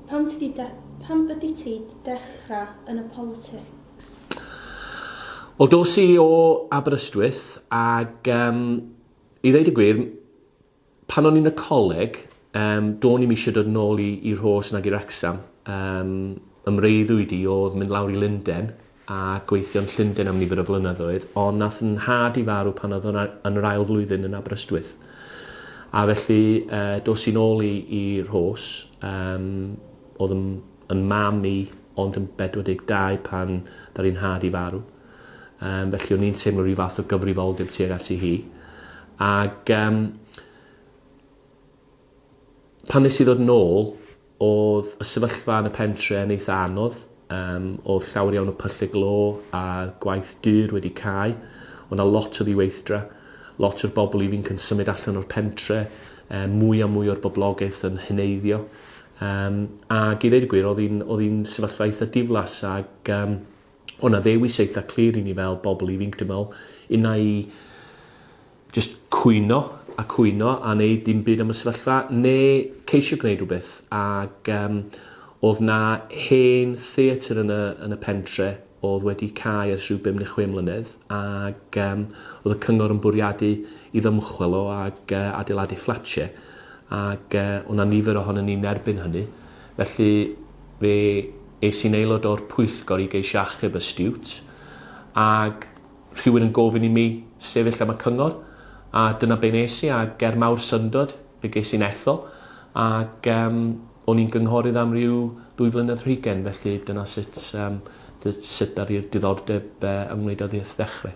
Pam ti 'di de- pam ydi ti 'di dechra yn y politics? Wel dos i o Aberystwyth ag um, i ddeud y gwir, pan o'n i'n y coleg, um, do'n i'm eisiau dod nôl i, i Rhos nag i Wrexham. Um, ymreiddwyd i oedd mynd lawr i Lunden a gweithio yn Llundain am nifer o flynyddoedd, ond nath 'yn nhad i farw pan oedd o'n yn yr ail flwyddyn yn Aberystwyth. A felly uh, dos i'n ôl i, i Rhos, um, oedd yn, yn mam i ond yn 42 pan ddar i'n nhad i farw. Um, felly o'n i'n teimlo rhyw fath o gyfrifoldeb tuag ati hi. Ac um, Pan nes i ddod nôl odd y sefyllfa yn y pentre yn eitha anodd yym odd llawer iawn o pylle glo a gwaith dur wedi cau o' 'na lot o ddiweithdra lot o'r bobl ifinc yn symud allan o'r pentre yy mwy a mwy o'r boblogaeth yn heneiddio yym ag i ddeud y gwir odd 'i'n odd 'i'n sefyllfa eitha diflas ag yym o' 'na ddewis eitha clir i ni fel bobl ifinc dwi me'wl unai Jyst cwyno a cwyno a neud dim byd am y sefyllfa ne ceisio gwneud rhywbeth ag yym o'dd 'na hen theatr yn y yn y pentre o'dd wedi cau ers rhyw bum ne chwe mlynedd ag yym o'dd y cyngor yn bwriadu i ddymchwel o ag yy adeiladu fflatie ag yy o' 'na nifer ohonon ni'n erbyn hynny felly fe es i'n aelod o'r pwyllgor i geisio achub y stiwt ag Rhywun yn gofyn i mi sefyll am y cyngor, a dyna be nes i, a ger mawr syndod, fe ges i'n ethol, ac um, o'n i'n gynghorydd am ryw ddwy flynedd rhygen, felly dyna sut, um, sut ar i'r diddordeb uh, yng Ngwneud Addysg ddechrau.